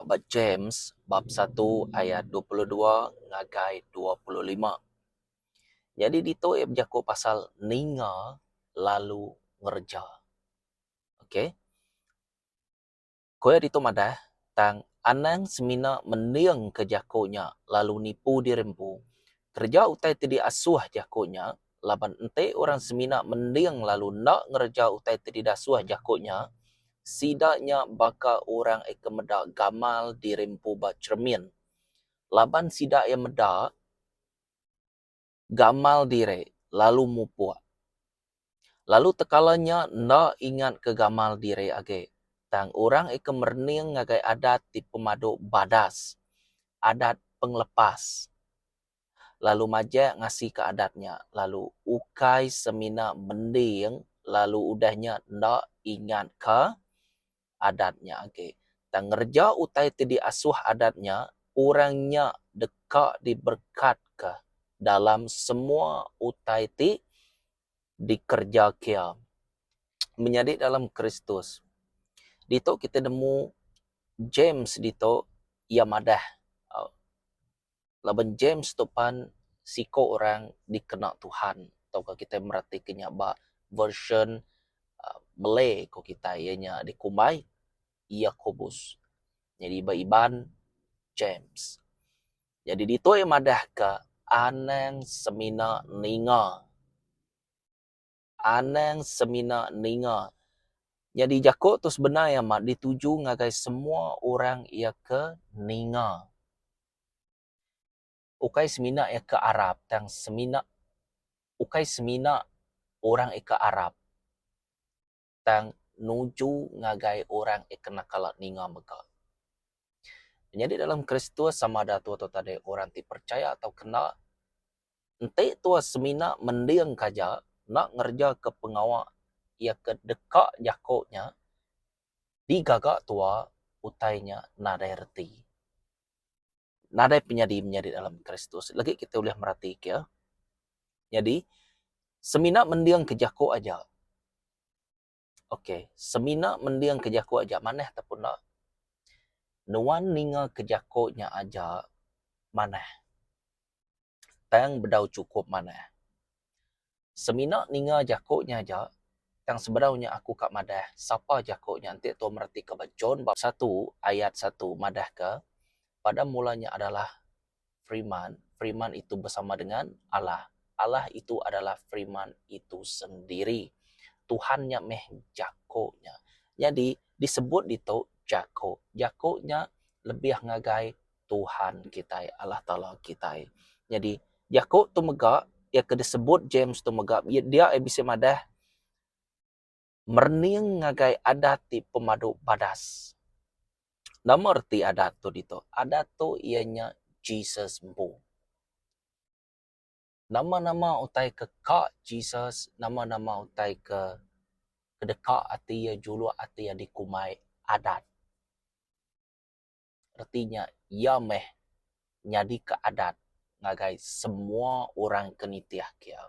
Ba James bab satu ayat dua puluh dua ngagai dua puluh lima. Nyadi ditu iya bejaku pasal ninga lalu ngereja. Okay. Ku iya ditu madah, tang anang semina mendingka jaku nya lalu nipu diri empu. Kereja utai ti diasuh jaku nya, laban enti orang semina mending lalu enda ngereja utai ti didasuh jaku nya, sida nya baka orang iya ke meda gamal diri empu ba cheremin. Laban sida iya meda. gamal diri lalu mupuk. Lalu tekala nya enda ingat ke gamal diri agi tang orang ika merening ngagai adat ti pemadu badas, adat pengelepas lalu majak ngasika adat nya lalu ukai semina mending lalu udah nya enda ingatka adat nya agi. Tang ngereja utai ti diasuh adat nya, orang nya deka diberekatka dalam semua utai ti dikereja kia. Menyadi dalam Kristus, ditu kitai nemu James ditu iya madah. Laban James tu pan siko orang dikena Tuhan tauka kitai meratika nya ba version Malay ko kitai iya nya dikumbai Yakobus nyadi ba Iban James. Nyadi ditu iya madah ka anang semina ninga. Anang semina ninga. Nyadi jako tu sebenar amat dituju ngagai semua orang ia ke ninga. Ukai semina ia ke arap tang semina ukai semina orang ia ke arap tang nuju ngagai orang ia ke nakal ninga mega. Nyadi dalam Kristus sama ada tu atau tade orang ti percaya atau kena Enti tua semina mending ke aja enda ngereja ke pengawa iya ke deka jako nya di gaga tua utai nya nadai reti. Nadai penyadi menyadi dalam Kristus legi kita ulih merati ke iya. Nyadi semina mending ke jako aja. Ok, semina mending ke jako aja manah tau pun enda, nuan ninga ke jako nya aja manah tang bedau chukup manah. Semina ninga jako nya aja tang sebedau nya aku ka madah sapa jako nya enti tau meratika ba John bab satu ayat satu madah ka, pada mula nya adalah Firman, Firman itu bersama dengan Allah. Allah itu adalah Firman itu sendiri. Tuhan nya meh jako nya. Nyadi disebut ditu jako. Jako nya lebih ngagai Tuhan kitai, Allah Taala kitai. Nyadi jako tu mega iya ke disebut James tu mega dia ai bisi madah merening ngagai adat ti pemadu badas. Nama reti adat tu ditu? Adat tu iya nya Jesus empu. Nama-nama utai ke ka Jesus, nama-nama utai ke deka ati iya juluk ati iya dikumbai adat. reti nya iya meh nyadika adat ngagai semua orang ke nitih kia.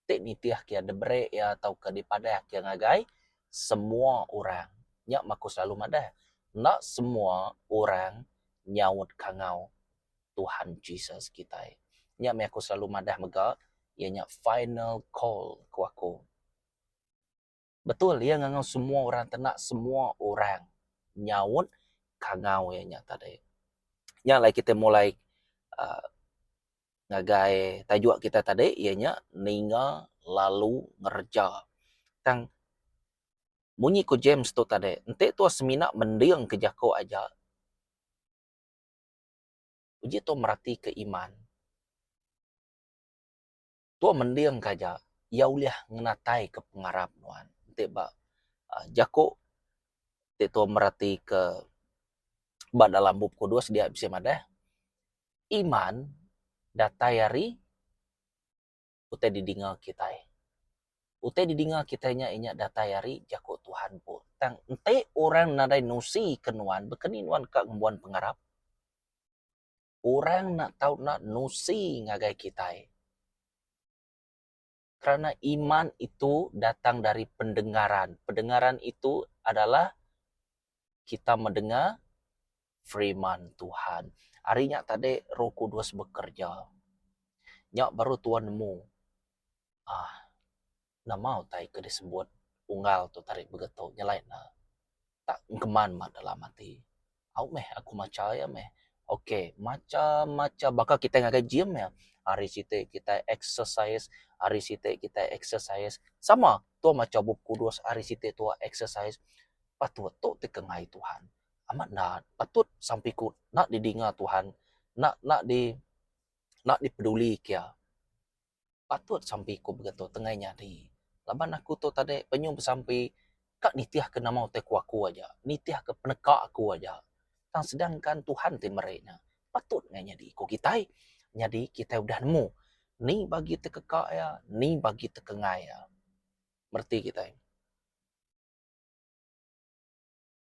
Ti nitih kia diberi iya tauka dipadah kia ngagai semua orang. Nya mah aku selalu madah enda semua orang nyaut kangau Tuhan Jesus kitai. Nya meh aku selalu madah mega iya nya final call ku aku. Betul iya ngangau semua orang kena semua orang nyaut kangau iya nya tadi. Nya alai kita mulai aaa ngagai tajuk kita tadi iya nya ninga lalu ngereja. Tang munyi ku James tu tadi enti tuan semina mending ke jaku aja uji tuan meratika iman. Tua mending ka aja iya ulih ngenataika pengarap nuan enti ba jaku ti tua meratika ba dalam bup kudus dia bisi madah iman datai ari utai didinga kitai. Utai didinga kitai nya inya datai ari jaku Tuhan pun. Tang enti orang nadai nusika nuan baka ni nuan ka ngembuan pengarap? orang enda tau nak nusi ngagai kitai kerana iman itu datang dari pendengaran, pendengaran itu adalah kita medengar firman Tuhan. Ari nya tadi Roh Kudus bekerja. Nya baru tuan nemu. Aaa. Nama utai ke disebut unggal tu tarik begetu nyelai ne tak engkeman ba dalam ati. Au meh aku macha iya meh. Ok macha macha baka kitai ngagai gym meh hari siti kitai exercise hari siti kitai exercise sama tuo macha bup kudus hari siti tuo exercise patut tu ti ke ngai Tuhan amat da patut sampi ku enda didinga Tuhan enda enda di enda dipeduli ke iya. patut sampi ku begitu tengai nyadi laban aku tok tadi penyuh besampi ka nitih ke nama utai ku aku aja nitih ke peneka ku aja tang sedangkan Tuhan ti meri nya patut ngai nyadi ku kitai nyadi kitai udah nemu ni bagi te keka iya ni bagi te kengai iya bereti kitai.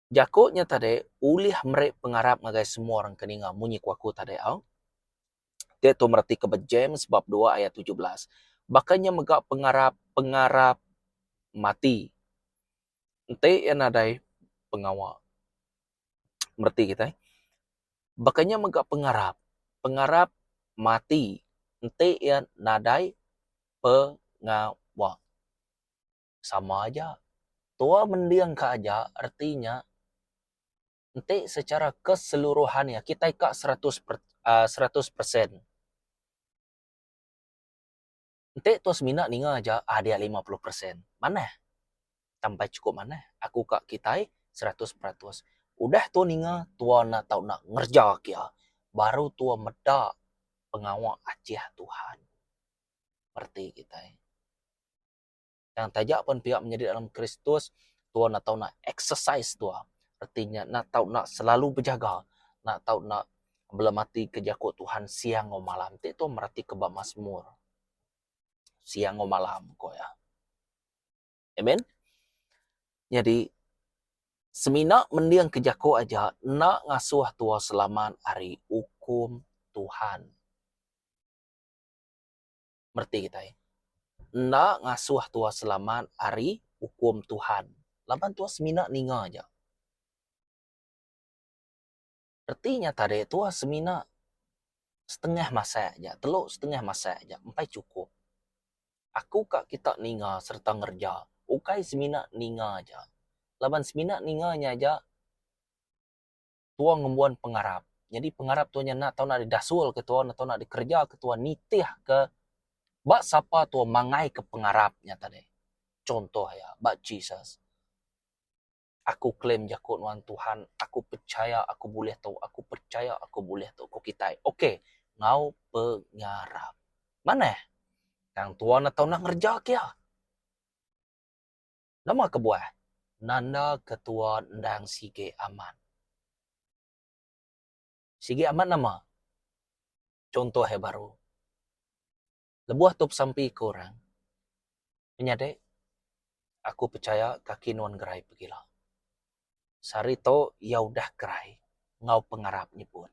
Jaku nya tadi ulih meri pengarap ngagai semua orang ke ninga munyi ku aku tadi au. Diatu meratika ba James bab dua ayat tujuh belas. Baka nya mega pengarap pengarap mati enti iya nadai pengawa. Mereti kitai. Baka nya mega pengarap pengarap mati enti iya nadai pengawa. sama aja. Tua mending ka aja reti nya enti secara keseluruhan iya kitai ka seratus per aaa seratus persen. Enti tua semina ninga aja aaa dia lima puluh persen. Manah tampai chukup manah aku ka kitai seratus peratus. Udah tua ninga tua enda tau nak ngereja ka iya baru tua meda pengawa achih Tuhan reti kitai. Yang taja pen pia menyadi dalam Kristus, tua enda tau nak exercise tua. Reti nya enda tau nak selalu bejaga, enda tau nak belemati ke jaku Tuhan siang enggau malam. Enti tua meratika ba Masmur, siang enggau malam ko iya. Amen. Nyadi semina mending ke jaku aja enda ngasuh tua selamat ari ukum Tuhan. mereti kitai enda ngasuh tua selamat ari ukum Tuhan laban tua semina ninga aja. Reti nya tadi tua semina setengah masak aja telu setengah masak aja empai chukup. Aku ka kita ninga sereta ngereja ukai semina ninga aja laban semina ninga nya aja tua ngembuan pengarap nyadi pengarap tua nya enda tau nak didasulka tua enda tau nak dikerejaka tua nitihka ba sapa tua mangaika pengarap nya tadi. Chuntoh iya ba Jesus. Aku claim jaku nuan Tuhan, aku pechaya aku bulih tu, aku pechaya aku bulih tu ku kitai. Ok enggau pengarap. Manah tang tua enda tau nak ngerejaka iya. Nama kebuah? Nanda ketua endang sigi amat. Sigi amat nama? Chuntoh iya baru. Lebuh tu pesampi ke orang. Menyadi, aku pechaya kaki nuan gerai pegila. Sehari tu iya udah kerai enggau pengarap nyebut.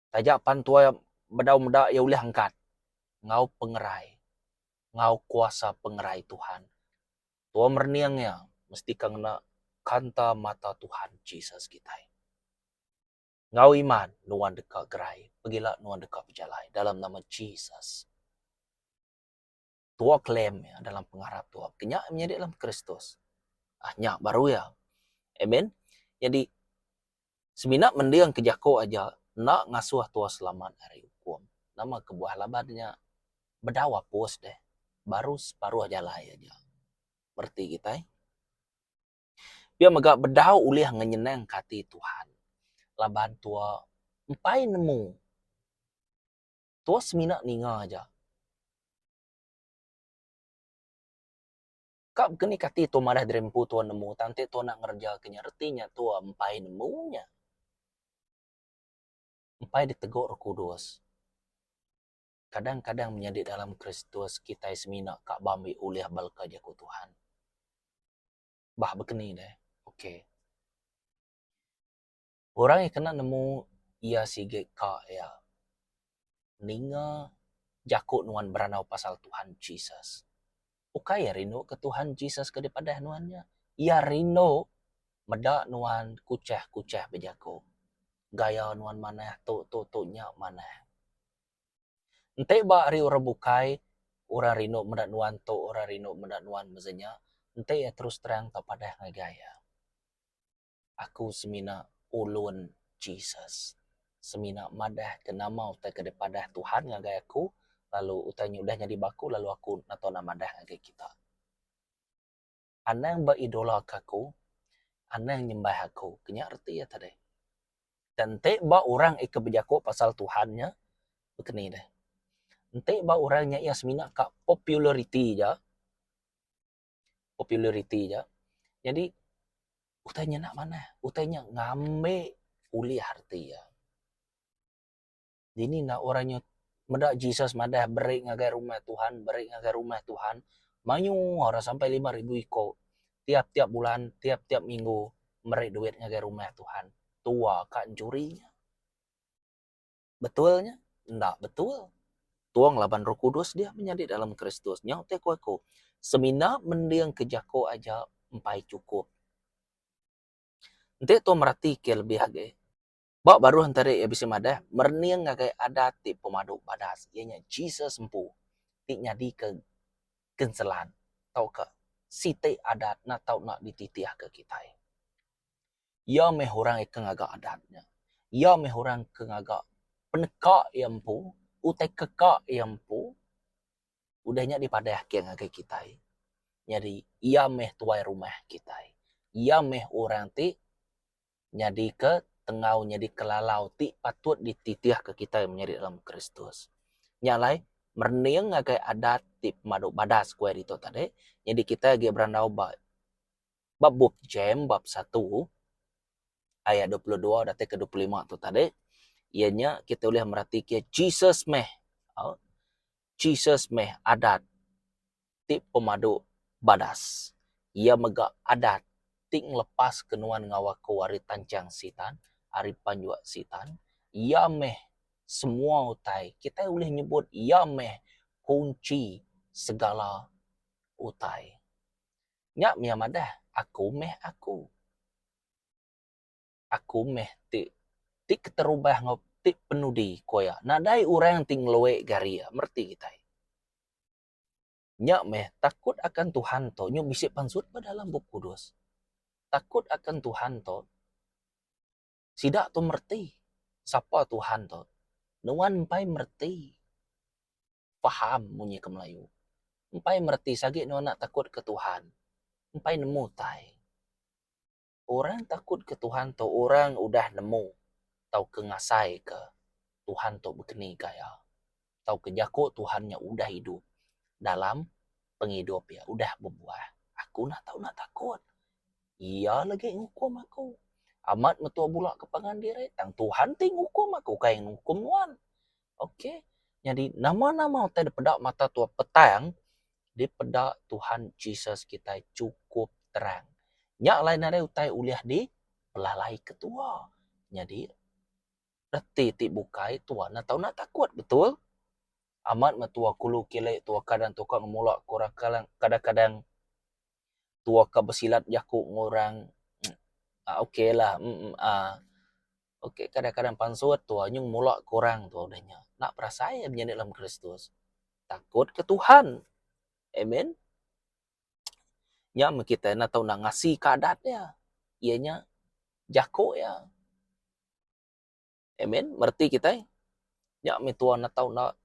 Taja pan tuai bedau meda iya ulih angkat enggau pengerai enggau kuasa pengerai Tuhan. Tuai merening iya mesti ka ngena kanta mata Tuhan Jesus kitai. Enggau iman nuan deka gerai pegila nuan deka bejalai dalam nama Jesus. tua klaim iya dalam pengarap tua ke nya menyadi dalam Kristus. Ah nya baru iya. Amen. Nyadi semina mending ke jaku aja enda ngasuh tua selamat ari ukum. Nama kebuah laban nya bedau apus deh baru separuh jalai aja bereti kitai. Pia mega bedau ulih ngenyenangka ati Tuhan laban tua empai nemu Tua semina ninga aja. Ka baka ni kati tua madah diri empu tua nemu tang enti tua enda ngereja ke nya reti nya tua empai nemu nya. Empai diteguk Roh Kudus. Kadang-kadang menyadi dalam Kristus kitai semina ka ba ambi ulih belka jaku Tuhan. Bah baka ni deh. Okay. Orang iya kena nemu iya sigi ka iya ninga jaku nuan berandau pasal Tuhan Jesus. Ukai iya rindu ke Tuhan Jesus ke dipadah nuan nya. Iya rindu meda nuan kuchah-kuchah bejaku. Gaya nuan manah tu tu tu nya manah. Enti ba ari orang bukai orang rindu meda nuan tu orang rindu meda nuan mezi nya enti iya terus terang tau padah ngagai iya. Aku semina ulun Jesus. Semina madah ke nama utai ke dipadah Tuhan ngagai aku lalu utai nya udah nyadi ba aku lalu aku enda tau nak madah ngagai kita. Anang ba idola ke aku, anang nyembah aku. Ke nya reti iya tadi. Dan enti ba orang ika bejaku pasal Tuhan nya baka ni deh. Enti ba orang nya iya semina ka populariti aja. populariti nya nyadi utai nya enda manah utai nya ngambi ulih reti iya. Dini enda orang inya meda Jesus madah beri ngagai rumah Tuhan beri ngagai rumah Tuhan mayuh orang sampai lima ribu iko tiap tiap bulan tiap tiap minggu meri duit ngagai rumah Tuhan tuwa ka juri nya. Betul nya? Enda betul. Tuong laban Roh Kudus dia menyadi dalam Kristus. Nyau te ku aku, semina mending ke jako aja empai cukup. Enti tuong merati ke lebih agi, ba baruh entari iya bisi madah merening ngagai adat ti pemadu badas iya nya Jesus empu ti nyadi ke genselan tauka siti adat na tau na dititih ke kitai. Iya meh orang ke ngaga adat nya. Iya meh orang ke ngaga peneka iya empu, utai keka iya empu. Udah nya dipadah ake ngagai kitai. Nyadi iya meh tuai rumah kitai. Iya meh orang ti nyadika tengau nyadika lalau ti patut dititihka kitai menyadi dalam Kristus. Nya alai, merening ngagai adat ti pemadu badas ku iya ditu tadi, nyadi kitai agi berandau ba ba bup Jem bab satu ayat dua puluh dua datai ke dua puluh lima tu tadi iya nya kita ulih meratika Jesus meh aaa Jesus meh adat ti pemadu badas. Iya mega adat ti ngelepas ke nuan enggau aku ari tanchang Sitan ari penjua Sitan. Iya meh semua utai kitai ulih nyebut iya meh kunchi segala utai. Nya mih iya madah, aku mih aku. Aku mih ti ti keterubah enggau ti penudi ku iya. Nadai orang ti ngeloi ga ari iya mereti kitai. Nya mih takut akan Tuhan tu nyu bisi pansut ba dalam Bup Kudus. Takut akan Tuhan tu sida tu mereti sapa Tuhan tu. Nuan mpai mereti. Faham munyi ke Melayu. Empai mereti sagi nuan enda takut ke Tuhan. Empai nemu tai. Orang takut ke Tuhan tu orang udah nemu tauka ngasai ke Tuhan tu bekeni ga iya. Tauka jako Tuhan nya udah idup dalam pengidup iya. Udah bebuah. Aku enda tau enda takut. Iya lagi ngukum aku. Amat metua bula ke pangan diri tang Tuhan ti ngukum aku ukai ngukum nuan. Ok nyadi nama nama utai da peda mata tua petang dipeda Tuhan Jesus kitai chukup terang. Nya alai nadai utai ulih di pelalai ke tua. Nyadi reti ti bukai tua enda tau nda takut betul. Amat meh tua kulu kile tua kadang tua ka ngemula ku orang kadang kadang kadang tua ka besilat jaku ngu orang. Aa ok lah uhh. Ok kadang kadang pansut tuha nyeng mula kurang tuha udah nya nak perasai iya menyadi dalam kristus takut ke tuhan amen nya men kita enda tau nak ngasi ka adat iya iya nya jako iya amen bereti kitai nya me tuha enda tau nak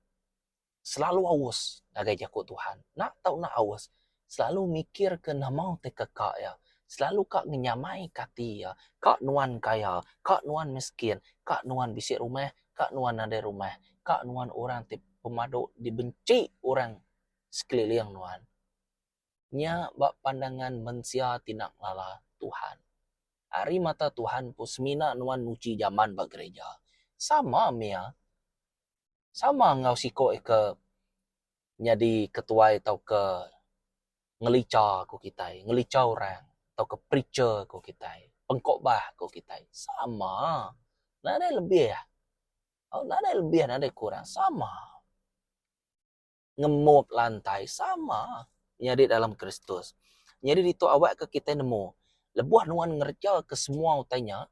selalu aus ngagai jaku Tuhan. Enda tau enda aus, selalu mikirka nama ti keka iya, selalu ka ngenyamaika ati iya, ka nuan kaya, ka nuan miskin, ka nuan bisi rumah, ka nuan nadai rumah, ka nuan orang ti pemadu dibenci orang sekeliling nuan. Nya ba pandangan mensia ti enda ngelala Tuhan. Ari mata Tuhan pun semina nuan nguji jaman ba gerija. Sama meh iya. sama enggau siko ika nyadi ketuai tauka ngelicha ko kitai, ngelicha orang tauka preacher ko kitai, pengkobah ko kitai sama. Nadai lebih tau nadai lebih nadai kurang sama. Ngemop lantai sama nyadi dalam Kristus. Nyadi ditu awak ke kitai nemu lebuh nuan ngereja ke semua utai nya.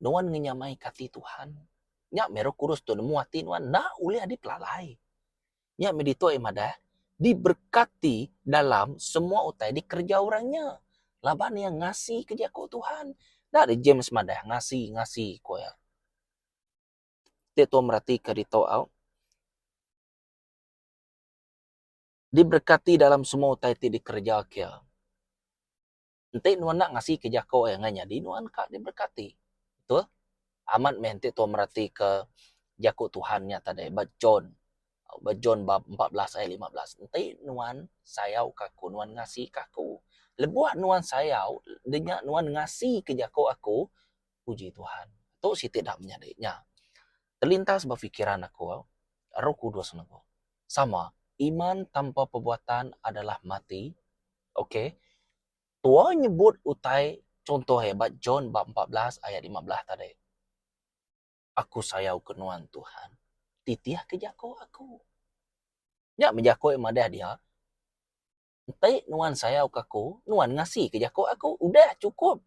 Nuan ngenyamai ke ati Tuhan. Nya meh roh kudus tu nemu ati nuan enda ulih adi pelalai. Nya meh ditu aye madah diberkati dalam semua utai dikereja orang nya laban iya ngasi ke jaku Tuhan. Enda deh James madah ngasi ngasi ku iya. Ti tuan meratika ditu au diberkati dalam semua utai ti dikereja ke iya. Enti nuan ngasika jako iya ngagai nyadi nuan ka diberkati. Betul? Amat meh enti tuan meratika jako Tuhan nya tadi ba John ba John bab empat belas ayat lima belas. Enti nuan sayauka Aku, nuan ngasika Aku. Lebuh nuan sayau, nya nya nuan ngasika jako Aku, puji Tuhan. Tu siti da menyadi nya. Terlintas ba fikiran aku, Roh Kudus nengah. Sama, iman tanpa perbuatan adalah mati, Ok. Tua nyebut utai chunto iya ba John bab empat belas ayat lima belas tadi. Aku sayauka nuan, Tuhan. Titihka jaku aku. Nya meh jaku iya madah dia, Enti nuan sayauka aku, nuan ngasika jaku aku. Udah, chukup.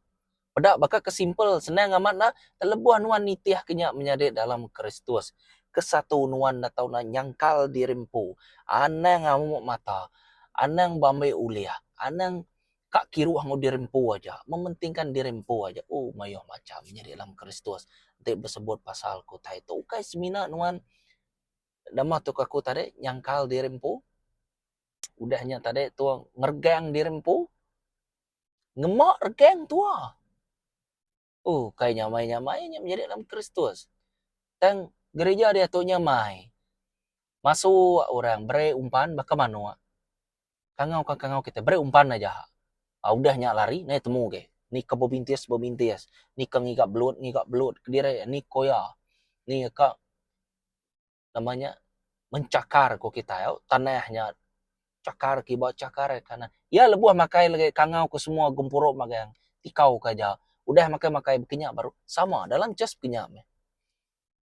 Peda baka ke simple, senang amat enda, telebuh nuan nitihka nya menyadi dalam Kristus, ke satu nuan enda tau enda nyangkal diri empu, anang amuk mata, anang beambai ulih, anang ka kiruh enggau diri empu aja, mementingkan diri empu aja. Ooh mayuh macham menyadi dalam Kristus enti besebut pasal aku tai tu. Ukai semina nuan dema tok aku tadi nyangkal diri empu, udah nya tadi tu ngeregang diri empu. Ngema regeng tua. Ukai nyamai-nyamai nya menyadi dalam Kristus. Tang gerija diatu nyamai. Masuk orang beri umpan baka manok. Kangau ke kangau kita beri umpan aja. Udah nya lari nai temu agei. Ni ke bebintis bebintis. Ni ke ngiga belut ngiga belut. Kediri ni ke uya. Ni ka. nama nya menchakar ku kitai au tanah nya chakar kiba chakar iya kanan iya lebuh makai lagi kangau ku semua gempuru magang tikau ka ja udah makai makai kinya baru sama dalam just kinya meh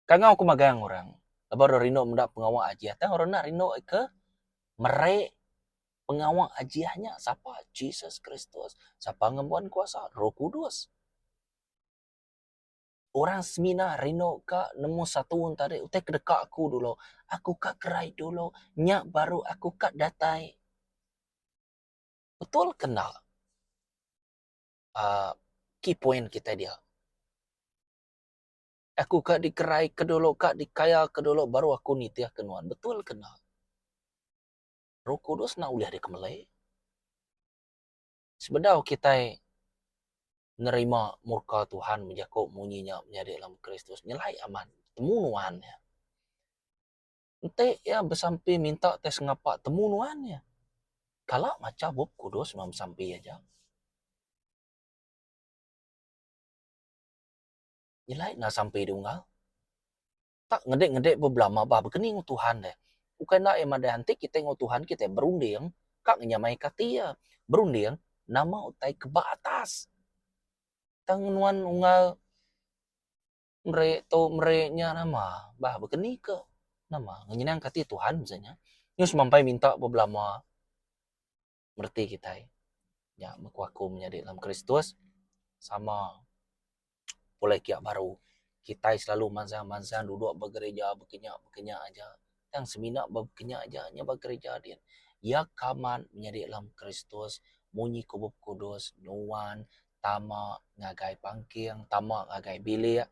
kangau ku magang orang lebuh orang rindu meda pengawa ajiah tang orang enda rindu ke mere pengawa ajiah nya sapa Jesus Kristus sapa ngembuan kuasa roh kudus. Orang semina rindu ka nemu satu orang tadi utai ke deka aku dulu. Aku ka kerai dulu, nya baru aku ka datai. Betul ke enda uhh key point kitai dia. Aku ka dikerai ke dulu, ka dikaya ke dulu baru aku nitih ke nuan. Betul ke enda? Roh Kudus enda ulih dikemelai. Sebedau kitai nerima murka Tuhan bejaku munyi nya menyadi dalam Kristus nyelai amat temu nuan iya. Enti iya besampi minta tai sengapa temu nuan iya. Kala macha Bup Kudus nuan besampi aja. Nyelai enda sampi dunggal. Tak ngedek-ngedek be belama ba bekeni enggau Tuhan deh. Ukai enda iya madah enti kitai enggau Tuhan kitai berunding ka ngenyamaika ati iya. Berunding nama utai ke ba atas. Tang nuan unggal meri tu meri nya nama bah bekeni ke nama ngenyenangka ati Tuhan mesti nya. Nyuh semampai minta ba belama. mereti kitai nya bekuaku menyadi dalam Kristus sama pulai kia baru. Kitai selalu mansang-mansang duduk ba gerija bekenya-bekenya aja. Tang semina ba bekenya aja nya ba gerija din. Iya ka mat menyadi dalam Kristus munyi ku Bup Kudus nuan tama ngagai pangking, tama ngagai bilik,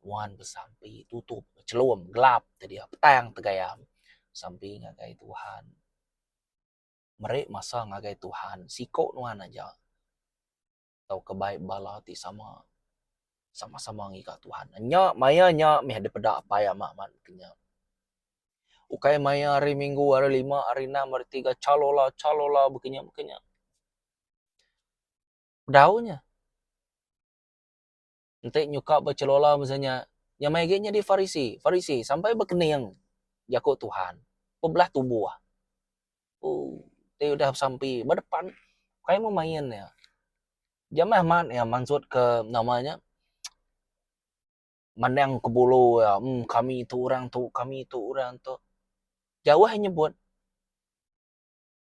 nuan besampi tutup chelum gelap te dia petang tegayam sampi ngagai Tuhan. meri masa ngagai Tuhan siko nuan aja tauka bai bala ti sama sama-sama ngiga Tuhan. Nya maya nya meh dipeda Apai Ama mat ke nya. Ukai maya hari Minggu, hari Lima, hari Enam, hari Tiga chalola chalola baka nya baka nya. Bedau nya. Enti nyuka bechelola masa nya, nya mai agi nyadi Farisi, Farisi, sampai bekening, jaku Tuhan, bebelah tubuh. Ooh, ti udah besampi ba depan, kai meh main iya. Jamah mat iya mansutka nama nya, mandang ke bulu iya, emm kami tu orang tu, kami tu orang tu. Jauh nyebut.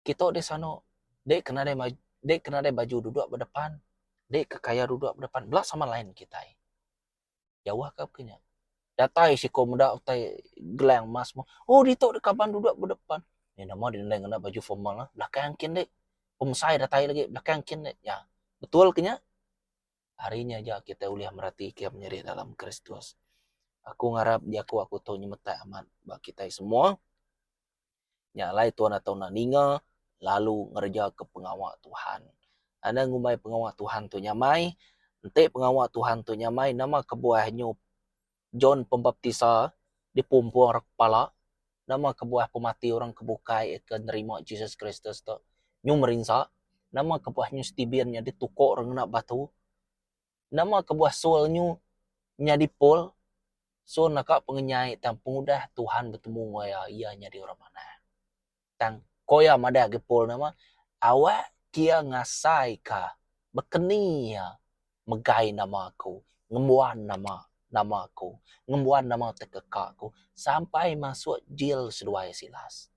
Kitok deh sanok, deh ke nadai maju, deh ke nadai baju dudok ba depan, deh ke kaya dudok ba depan, bela sama lain kitai. Jauh ka ke nya. Datai siko meda utai gelang emas meh, oh ditok deh kaban dudok ba depan. Nya nama deh nadai ngena baju formal eh, belakang engkin deh. Pemesai datai legi, belakang engkin deh. Nya, betul ke nya? Hari nya aja kitai ulih meratika penyerik dalam Kristus. Aku ngarap jaku aku tu nyemetak amat ba kitai semua. Nya alai Tuan atau enda ninga lalu ngerejaka pengawa Tuhan. Anda ngumbai pengawa Tuhan tu nyamai? Enti pengawa Tuhan tu nyamai, nama kebuah nyu John Pembaptisa dipumpung ra kepala? Nama kebuah pemati orang ke bukai ke nerima Jesus Kristus tu nyu merinsa? Nama kebuah nyu Steven nyadi tuko orang ngena batu? Nama kebuah Saul nyu nyadi Paul? Saul naka pengenyai tang pengudah Tuhan betemu enggau iya, iya nyadi orang manah. Tang, ko iya madah agi Paul nama, Awak kia ngasaika bekeni iya megai nama aku, ngembuan nama nama aku, ngembuan nama tekeka aku sampai masuk jil seduai Silas.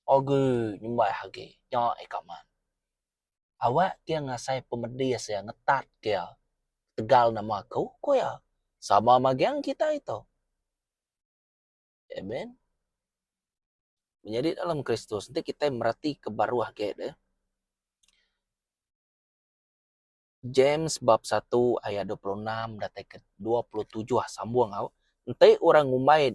Agui nyembah agi nya ika man. awak kiya ngasai pemedis iya ngetat kiya ketegal nama aku ku iya sama magang kita ito amen menyadi dalam kristus enti kita mereti ke baruh agi deh. James bab satu ayat dua puluh enam datai ke dua puluh tujuh sambung au, Enti orang ngumbai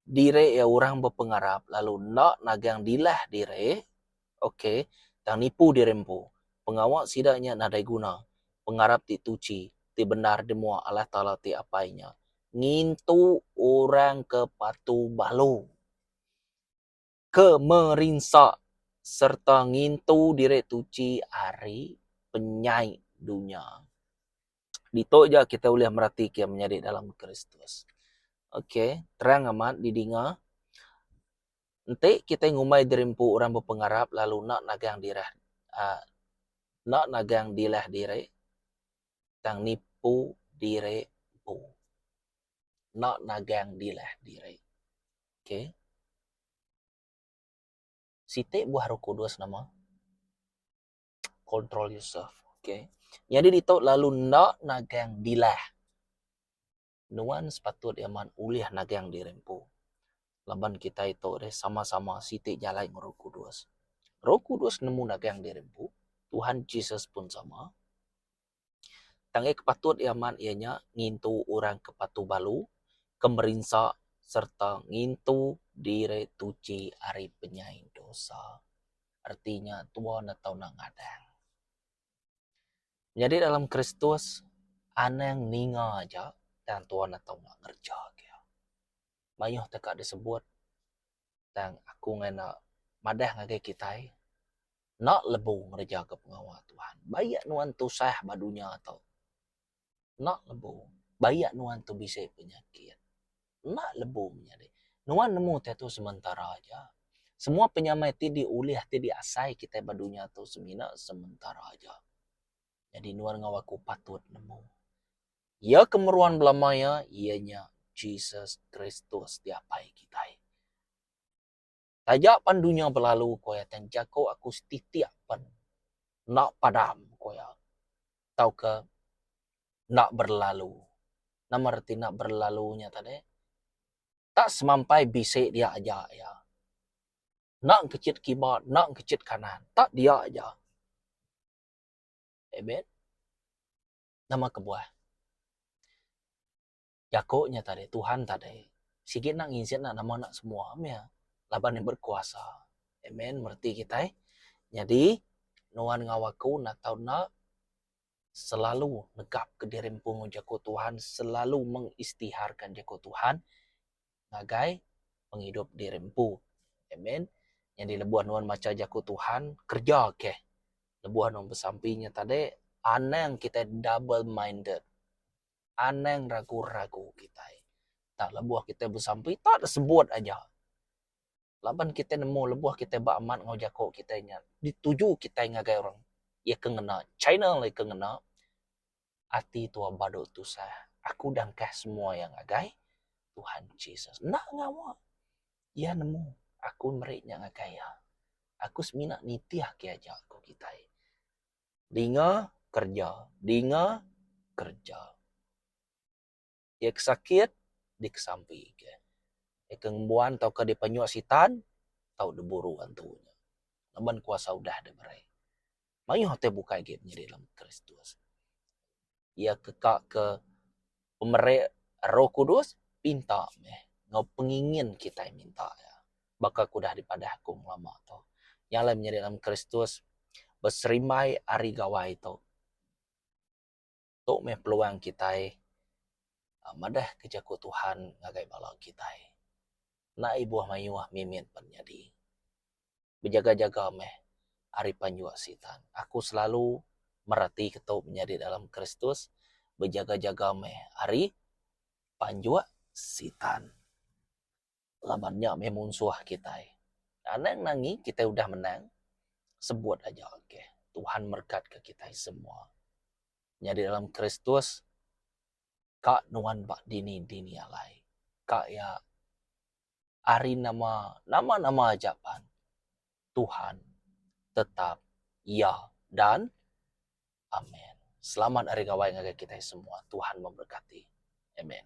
diri iya orang bepengarap lalu enda nagang dilah diri, ok, tang nipu diri empu, pengawa sida nya nadai guna. Pengarap ti tuchi, ti bendar dimuak Allah Taala ti Apai nya ngintu orang ke patu balu. ke merinsa sereta ngintu diri tuchi ari penyai dunya. Ditu aja kitai ulih meratika menyadi dalam Kristus. Ok, terang amat didinga. Enti kitai ngumbai diri empu orang bepengarap lalu enda nagang dirah aaa enda nagang dilah diri tang nipu diri empu. Enda nagang dilah diri. Okay. Siti buah roh kudus nama. Control yourself. Okay. Nyadi ditu lalu enda nagang dilah. Nuan sepatut amat ulih nagang diri empu. Laban kitai tu deh sama-sama siti jalai enggau roh kudus. Roh kudus nemu nagang diri empu. Tuhan Jesus pun sama. Tang iya ke patut iya amat iya nya ngintu orang ke patuh balu, ke merinsa sereta ngintu diri tuchi ari penyai dosa. Reti nya tua ne tau enda ngadang. Nyadi dalam Kristus anang ninga aja tang tua ne tau ngereja. Mayuh teka disebut tang aku ngena madah ngagai kitai enda lebu ngerejaka pengawa Tuhan. Ba iya nuan tusah ba dunya tu enda lebu. Ba iya nuan tu bisi penyakit enda lebu menyadi. Nuan nemu diatu sementara aja. Semua penyamai ti diulih ti diasai kitai ba dunya tu semina sementara aja. Jadi nuan enggau aku patut nemu. Iya ke meruan belama iya, iya nya Jesus Kristus diapai kitai. Taja pan dunya belalu, ku iya, tang jaku aku setitik pan enda padam, ku iya, tauka enda berlalu. Nama reti enda berlalu nya tadi? Enda semampai bisi dia aja iya. Enda engkechit kiba, enda engkechit kanan. Tak dia aja. Amen. Nama kebuah jaku nya tadi Tuhan tadi sigi nak ngizen nak nama nak semua meh laban iya berkuasa. Amen bereti kitai. Nyadi nuan enggau aku enda tau enda selalu negapka diri empu enggau jaku Tuhan, selalu mengistiharka jaku Tuhan. ngagai pengidup diri empu. Amen. Nyadi lebuh nuan macha Jaku Tuhan, kereja keh. Lebuh nuan besampi nya tadi, anang kitai double minded. Anang ragu-ragu kitai. Tak lebuh kitai besampi, tak deh sebut aja. Laban kitai nemu lebuh kitai ba amat enggau jaku kitai nya, dituju kitai ngagai orang. Iya ke ngena China lagi ke ngena. ati tua badu tusah aku udah engkah semua iya ngagai Tuhan Jesus enda ngawa iya nemu aku meri nya ngagai iya aku semina nitih ke aja ku kitai dinga kerja dinga kerja. Iya ke sakit dikesampi ke. Iya ke ngembuan tauka dipenyuk sitan tau diburu antu nya. Laban kuasa udah deh meri. Mayuh utai bukai agi nyadi dalam Kristus. Iya ke ka ke pemeri Roh Kudus pinta meh enggau pengingin kitai minta iya. Baka ke udah dipadah aku ngelama tu. Nya alai menyadi dalam Kristus beserimbai ari gawai tu. Tu meh peluang kitai madah ke jaku Tuhan ngagai bala kitai. Enda ibuh mayuh mimit pan nyadi. Bejaga-jaga meh ari penjua Sitan. Aku selalu meratika tu menyadi dalam Kristus, bejaga-jaga meh ari penjua Sitan. Laban nya meh munsuh kitai. Anang nangi kitai udah menang sebut aja okay. Tuhan merekatka kitai semua nyadi dalam Kristus ka nuan ba dini dini alai ka iya ari nama nama nama aja pan Tuhan tetap iya dan amen. Selamat hari gawai ngagai kitai semua Tuhan memberkati. Amen.